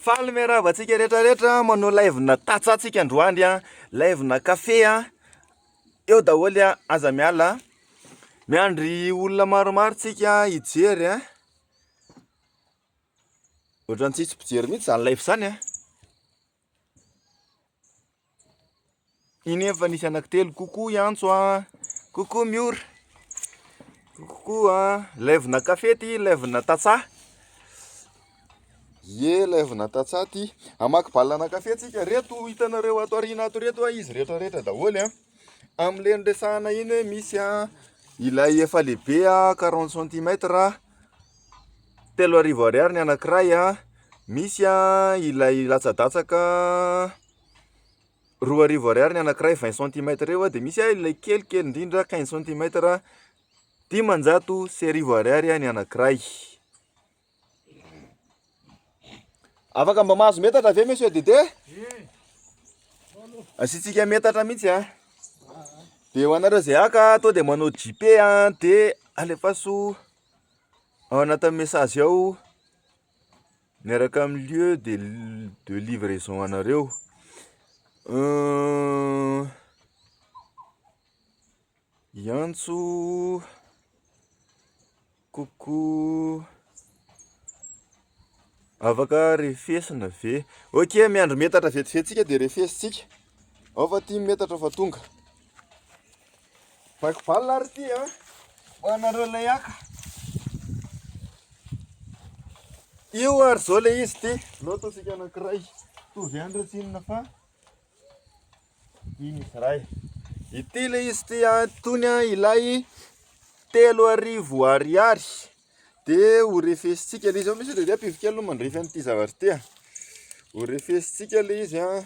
Faly miarahaba antsika rehetra rehetra manao live na tatsa tsika androany a live na kafe a eo daholo a aza miala miandry olona maromaro tsika hijery a ohatrantsika tsy mpijery mihitsy izany live izany a Iny efa nisy anaky telo koko hiantso a koko miora koko a levona kafe ty levona tatsa ye levona tatsa ty amaky balana kafe tsika reto hitanareo ato arina ato reto a izy rehetra rehetra daholo a amle ndresahana iny hoe misy a ilay efa lehibe a quarante centimetre a Telo arivo ariary ny anankiray a, misy a ilay latsadatsaka roa arivo ariary ny anankiray vingt centimètres eo a, dia misy a ilay kely kely indrindra quinze centimètres a, dimanjato sy arivo ariary ny anankiray. Afaka mba mahazo metatra ve monsieur Dede? Asiantsika metatra mihitsy a. Dia ho anareo izay haka, to dia manao JP a, dia alefaso. Ao anatin'ny message ao miaraka amin'ny lieu de de livraison anareo hiantso coucou. Afaka refesina ve? Ok, miandry metatra vetivety tsika dia refesintsika. Ao fa ty metatra fa tonga. Baiko balina ary ty an. Ho anareo ilay haka. Io ary zao ilay izy ty. Lototsika anankiray. Tovy ihany reo tsinona fa Ity ilay izy ity itony ilay telo arivo ariary dia ho refesintsika ilay izy, misy an'ireo ankizy kely mandrefy an'ity zavatra ity an, ho refesintsika ilay izy an.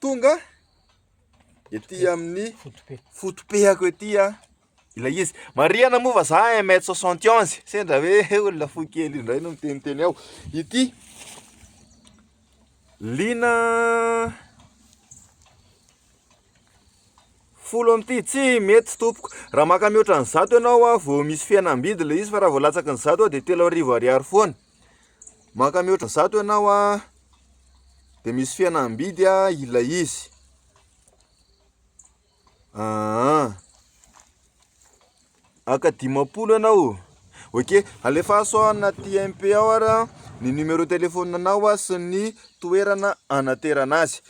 Tonga ety amin'ny fotopehako ety a ilay izy marihana moa fa za un mètre soixante onze sendra hoe olona fohy kely indray no miteniteny ao ity lina folo amin'ity tsy mety tompoko raha maka mihoatra ny zato ianao a vao misy fihenam-bidy ilay izy fa raha vao latsaky ny zato a dia telo arivo ariary foana Maka mihoatra zato ianao a, dia misy fihenam-bidy a ilay izy. Ah, aka dimampolo ianao. Ok, alefaso ao anaty MP ao ara ny numéro téléphone anao a sy ny toerana anaterana azy.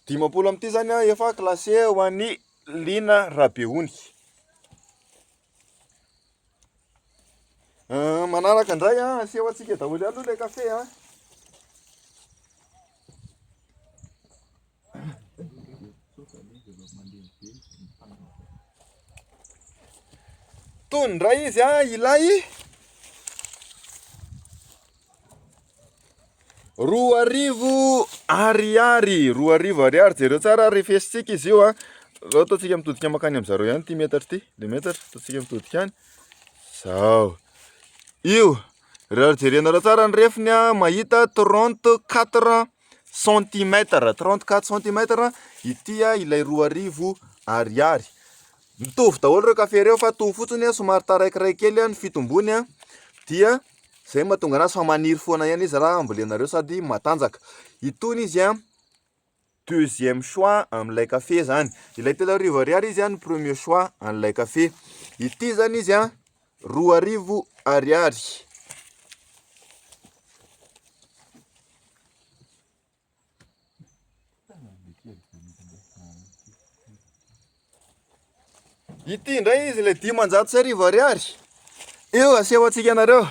Dimampolo amin'ity izany a efa classé ho an'i Lina Rabehonika. Manaraka indray an, aseho antsika daholo ihany aloha ilay kafe an. Tony indray izy an, ilay. Roa arivo ariary, roa arivo ariary, jereo tsara ary fesintsika izy io a. Zao ataontsika mitodika makany amin'izareo ihany ity metatra ity, le metatra, ataontsika mitodika any. Zao. Io, raha jerenareo tsara ny refiny a, mahita trente quatre centimètres, trente quatre centimètres ity a, ilay roa arivo ariary. Mitovy daholo ireo café ireo fa mitovy fotsiny somary taraikiraiky kely ny fitombony dia. Izay no mahatonga anazy fa maniry foana ihany izy raha ambolenareo sady matanjaka. Itony izy an, deuxième choix amin'ilay kafe izany. Ilay telo arivo ariary izy an, premier choix an'ilay kafe. Ity izany izy an, roa arivo ariary. Ity indray izy ilay dimanjato sy arivo ariary. Eo aseho antsika anareo.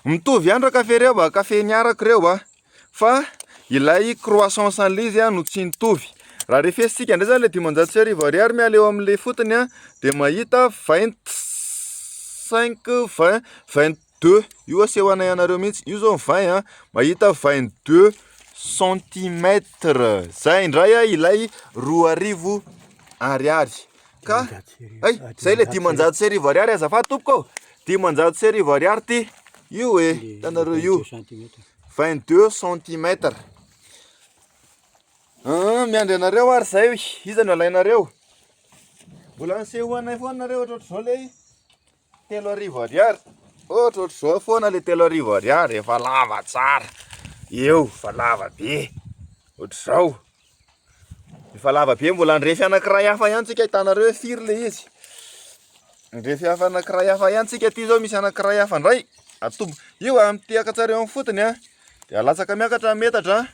Mitovy ihany ireo kafe ireo ba, kafe niarako ireo ba. Fa ilay croissant sans lys no tsy nitovy. Raha refesintsika indray izany ilay dimanjato sy arivo ariary miala eo amin'ilay fotony dia mahita vingt cinq vingt vingt deux io aseho anay anareo mihitsy, io zao ny vingt an! mahita vingt deux centimètres zay indray ah ilay roa arivo ariary ka hay zay le dimanjato sy arivo ariary azafady tompoko ô! dimanjato sy arivo ariary ity io e! hitanareo io vingt deux centimètres an! miandry anareo ary zay iza no alainareo? mbola aseho anay foana nareo ohatrohatr'izao lay Telo arivo ariary, ohatra ohatra zao foana le telo arivo ariary, efa lava tsara, eo, efa lava be, ohatra zao, efa lava be, mbola handrefy anakiray hafa ihany tsika hitanareo hoe firy le izy, handrefy hafa anakiray hafa ihany tsika, ty zao misy anakiray hafa ndray, atombo, io a mitehaka tsara eo amin'ny fotony a, de alatsaka miakatra ny metatra a,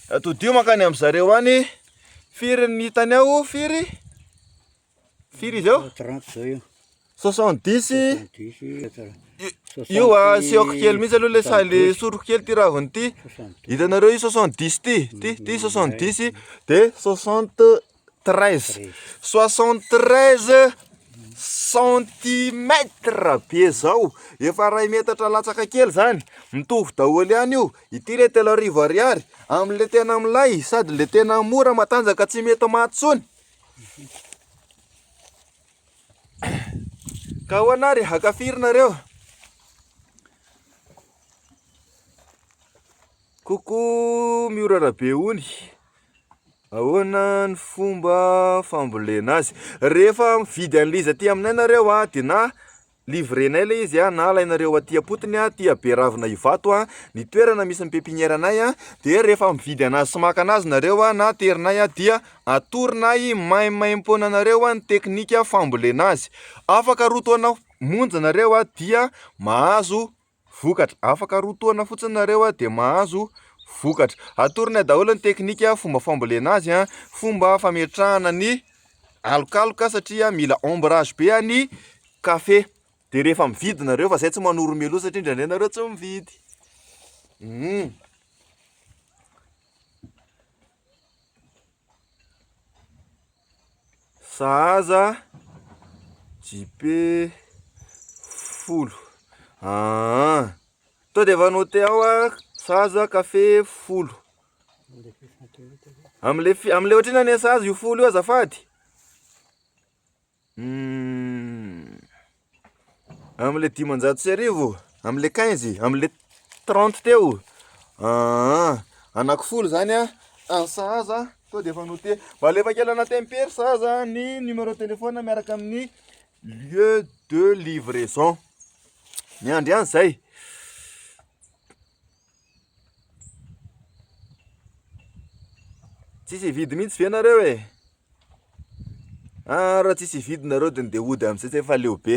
de atodiho mankany amin'ny zareo any, firy ny hitany ao, firy? Firy izy eo? 30 zao io. 70 io a seoko kely mihitsy aloha le sa le soroko kely ty raviny ty hitanareo io 70 ty ty ty 70 de 73 73 centimètre be zao efa ray metatra latsaka kely zany mitovy daholo ihany io ity le telo arivo ariary amle tena milay sady le tena mora matanjaka tsy mety maty tsony Ka ahoana ary, haka firy nareo? Coucou Miora Rabe Ony Ahoana ny fomba fambolena azy Rehefa mividy an'ilay izy aty aminay nareo a Dia na Livrenay ilay izy a, na alainareo aty am-potony a, aty Beravina Ivato a, ny toerana misy ny pepinière nay a, dia rehefa mividy anazy sy maka anazy nareo a, na aterinay a, dia atoronay maimaimpoana anareo a, ny teknika fambolena azy. Afaka roa taona monja nareo a, dia mahazo Vokatra, Afaka roa taona fotsiny nareo dia mahazo vokatra. Atoronay daholo ny teknika, fomba fambolena azy, fomba fametrahana ny alokaloka satria mila ombrage be ny kafe. Dia rehefa mividy nareo fa zay tsy manoro meloa satria indraindray nareo tsy mividy. Hum. Sahaza JP folo ah to dia efa noté ao ah sahaza café folo amle amle ohatrina ne sahaza io folo io azafady Amle dimanjato sy arivo, amle quinze, amle trente teo, aa anako folo zany a, any sahaza to de efa note, mba alefa kely anaty impr sahaza ny numero telefona miaraka amin'ny lieu de livraison, miandry any zay. Tsisy hividy mihitsy ve nareo e? Raha tsisy hividy nareo de ndeha hody amzay zay fa leo be.